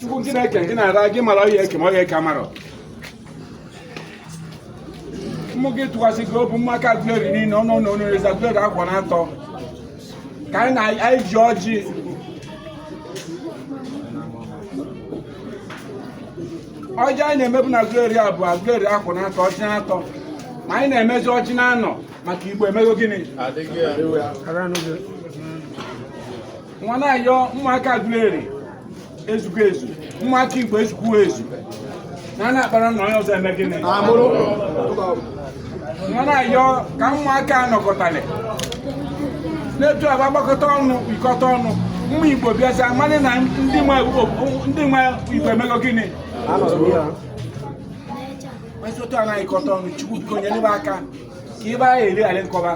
chukwu chineke gị na-ara gị mara onye eke ma onye eke amarọ mmụ gị tụkwasị gị obu ụmụaka agụleri niile ọnụ na onye reza agụleri akwa na atọ ka anyị ji ọjị ọjị anyị na-emebu na agụleri a bụ agụleri akwa na atọ ọjị na atọ ma anyị na-emezi ọjị na anọ maka igbo emego gịnị nwa na-ayọ ụmụaka Aguleri ezugo ezu ụmụaka Igbo ezukwuo ezu na a na-akpara na onye ọzọ eme gịnị nwa na-ayọ ka ụmụaka anọkọtali n'etu a ba gbakọta ọnụ ikọta ọnụ ụmụ Igbo bịazi amalị na ndị nwe Igbo emego gịnị etu a na-ayịkọta ọnụ Chukwu biko nyere m aka ka ịba ya eri arị nkọba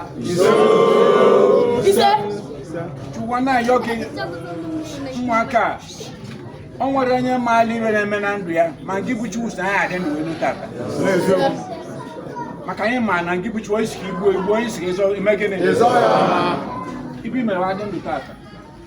chukwu na ayọ gị ụmụaka o nwere onye maala ive na-eme na ndụ ya ma gị bụ Chukwu so anyị adị ndụ elu tata maka anyị ma na gị bụ Chukwu ị sị ka i gbuo i gbuo ị sị ka ị zọọ i mee gịnị ibi mere adị ndụ tata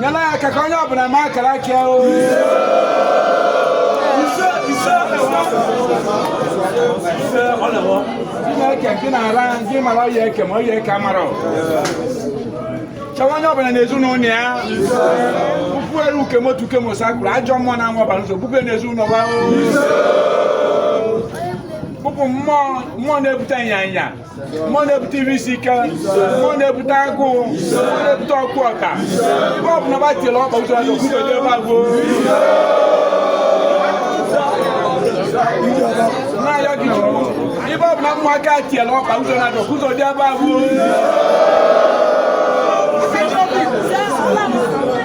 nyela ya aka ka onye ọbụla ma akara aka ya o Chineke gị na-ara gị mara onye eke ma onye eke amara chọwa onye ọbụla n'ezinụlọ ya puku eru ukemotu ukemosa kwuru ajọ mmụọ na-aṅụ ọbara ụzọ bupụ n'ezinụlọ ha o. bupụ mmụọ mmụọ na-ebute ịnyanya mmụọ na-ebute iri isi ike mmụọ na-ebute agụụ mmụọ na-ebute okwu ụka ebe ọ bụla ba tiela ọkpa ụzọ na okwubede ebe agụụ na-ayọ gị chukwu ebe ọ bụla ụmụaka tiela ọkpa ụzọ na-adọ ụzọ dị ebe agụụ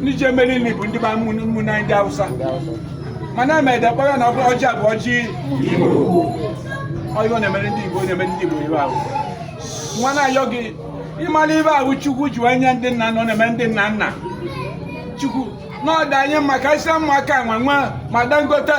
ndị ji emeri nri bụ ndị ụmụnne anyị ndị Hausa mana ama ede kpọrọ na ọ bụrụ ọjị abụ ọjị Igbo ọyị ọ na-emere ndị Igbo na-emere ndị Igbo ive ahụ nwa na-ayọ gị ị mara ive ahụ Chukwu ji wee nye ndị nna nọ na-eme ndị nna nna Chukwu n'ọdụ anyị maka isi ụmụaka nwe nwe ma Dangote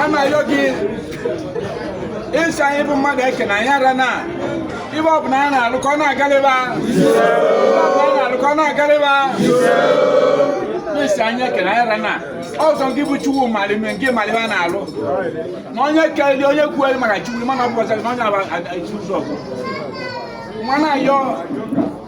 a na-ayọ gị ị sị anyị bụ mmadụ eke na anyị ara na ive ọ bụla anyị na-alụ ka ọ na-agalịba na-alụ ka ọ na-agalịba ị sị anyị eke na anyị ara na ọ sọ gị bụ chukwu mara ive nke mara ive a na-alụ na onye keli onye kwueli maka chukwu mana ọ bụ ọsọ na onye bu ụzọ mụ na-ayọ